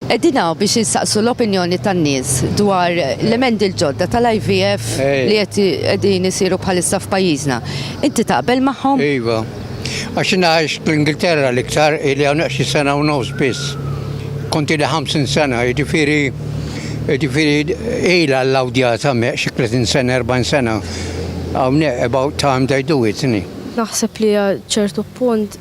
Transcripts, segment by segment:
Qegħdin hawn biex insaqsu l-opinjoni tan-nies dwar l-emendi l-ġodda tal-IVF li qed qegħdin isiru bħalissa f'pajjiżna. Inti taqbel magħhom? Iva. Għax jiena għajx fl-Ingilterra l-iktar ili hawn xi sena u nofs biss. Kont ili 50 sena, jiġifieri jiġifieri ilha l-awdjat hemmhekk xi 30 sena, 40 sena. Hawnhekk about time they do it, isn't it? Naħseb li għal ċertu punt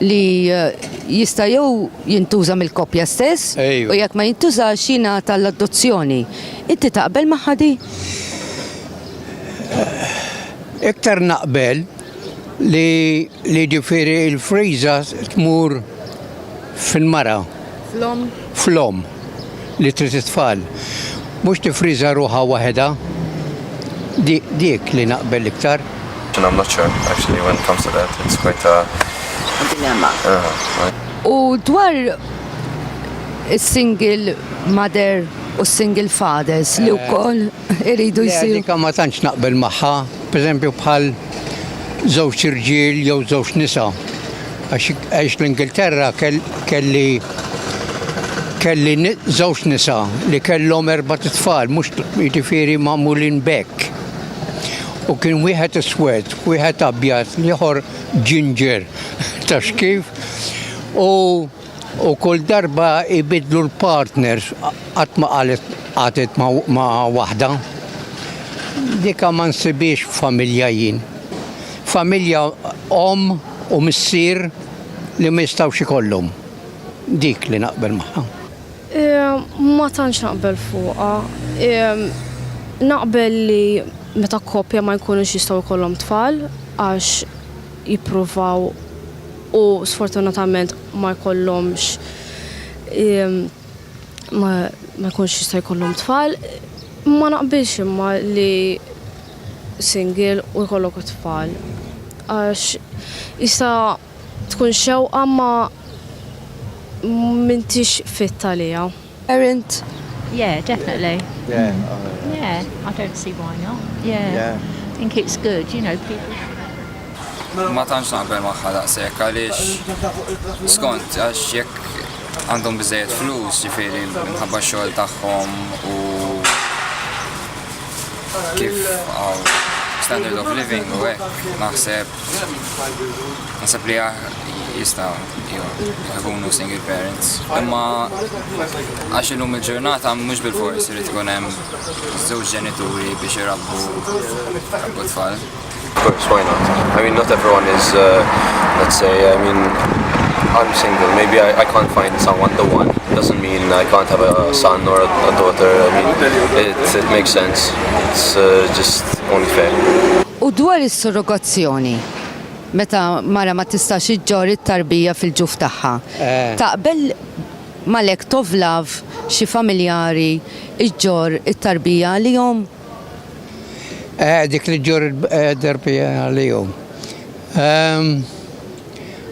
li jista' jew jintuża mill-koppja stess u jekk ma jintużax jingħata l-adozzjoni. Inti taqbel magħha di? Iktar naqbel li li ġifieri l-friża tmur fil-mara. Fl-omm? Fl-omm. li trid it-tfal. Mhux tiffriża ruħha waħedha. Di, dik li naqbel l-iktar. And I'm not sure, actually, when it comes to that. It's quite a... A dilemma. Uh-huh. U dwar is-single mother u s-single fathers li wkoll iridu jsiru. Dik ma tantx naqbel magħha, pereżempju bħal żewġ irġiel jew żewġ nisa. Għax l-Ingilterra kelli kelli żewġ nisa li kellhom erba' tfal, mhux jiġifieri magħmulin bekk. U kien wieħed iswed, wieħed abjad, l-ieħor ginger, taf kif? U U kull darba jbiddlu l-partners qatt ma qalet qatet ma' waħda. Dika ma nsibiex familja jien. Familja omm u missier li ma jistgħux ikollhom. Dik li naqbel magħha. Ma tantx naqbel fuqha. Naqbel li meta koppja ma jkunux jistgħu jkollhom tfal għax jippruvaw, u sfortunatament ma jkollhomx ma jkunx jista' jkollhom tfal. Ma naqbilx imma li single u jkollok it-tfal. Għax jista' tkun xewqa ma m'intix fit għaliha. Parent. Yeah, definitely. Yeah. Mm. Yeah, I don't see why not. Yeah. yeah. I think it's good, you know, people ma tantx naqbel magħha daqshekk għaliex skont għax jekk għandhom biżejjed flus ġifieri minħabba xogħol tagħhom u kif standard of living u hekk naħseb Nasab li jista jkunu single parents. Imma għax illum il-ġurnata mhux bil-fors irid tkun hemm żewġ ġenituri biex irabbu rabbu tfal. Course, why not? I mean, not everyone is, uh, let's say, I mean, I'm single. Maybe I, I can't find someone the one. It doesn't mean I can't have a son or a, a daughter. I mean, it, it makes sense. it's uh, just unfair. U dwar is-surrogazzjoni, meta mara ma tistax iġġor it-tarbija fil-ġuf tagħha, eh. taqbel malek tovlav xi familjari iġġor it-tarbija għalihom? Eh, dik li ġġor it-tarbija eh, għalihom. Ehm,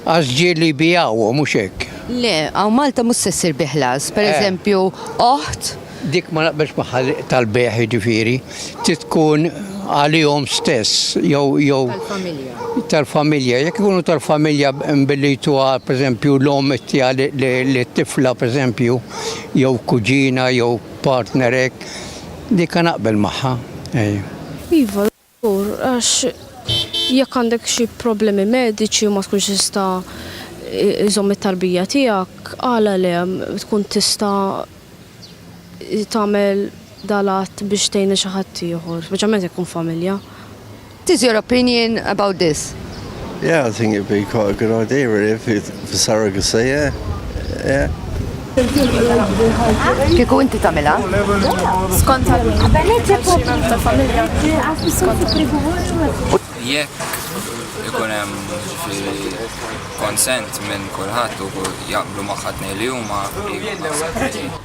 għax ġieli bijaw, mhux hekk. Le, għaw Malta mhux se ssir biħlas, pereżempju, oħt Dik ma naqbilx magħha tal-bejgħ jiġifieri trid tkun għalihom stess jew jew tal-familja. Jekk ikunu tal-familja billi jtuha pereżempju l-omm ittiha lit-tifla pereżempju jew kuġina jew partner hekk, dik naqbel magħha. Iva. Żgur, għax jekk għandek xi problemi mediċi u ma tkunx tista' iżomm it-tarbija tiegħek, għala le, tkun tista' tagħmel dal-att biex tgħin lil xi ħadd ieħor, speċjalment jekk tkun familja. What is your opinion about this? Yeah, I think it'd be quite a good idea really if it for surrogacy, yeah. Yeah. Kieku inti tagħmilha? Skont Jekk ikun hemm konsent minn kulħadd u jaqblu magħha tnejn li huma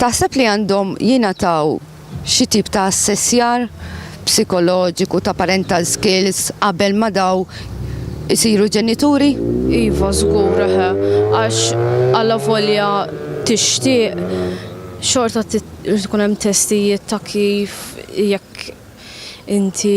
Taħseb li għandhom jingħataw xi tip ta' assessjar psikoloġiku, ta' parental skills qabel ma daw isiru ġenituri? Iva żgur eħe, għax allavolja tixtieq xorta trid ikun hemm testijiet ta' kif jekk inti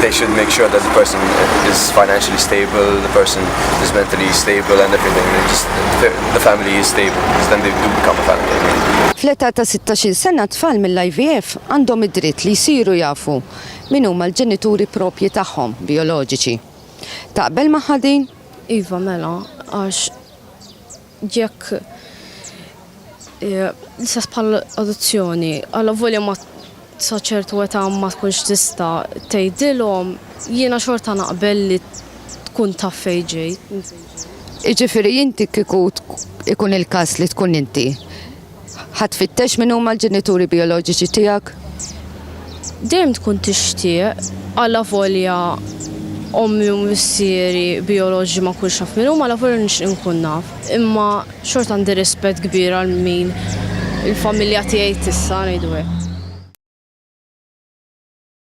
they should make sure that the person is financially stable, the person is mentally stable and everything. Just, the family is stable, because then they do become a family. Fl-età ta' 16 sena tfal mill-IVF għandhom id-dritt li jsiru jafu min huma l-ġenituri propji tagħhom bijoloġiċi. Taqbel magħha din? Iva mela, għax Jekk l-istess bħal adozzjoni, għala volja ma sa ċertu età ma tkunx tista' tgħidilhom, jiena xorta naqbel li tkun taf fejn ġej. Jiġifieri inti kieku ikun il-każ li tkun inti, Ħa tfittex min huma l-ġenituri bijoloġiċi tiegħek? Dejjem tkun tixtieq, allavolja ommi u missieri bijoloġiċi ma nkunx naf min huma, allavolja nixtieq inkun naf. Imma xorta għandi rispett kbir għal min il-familja tiegħi tista', ngħidu hekk.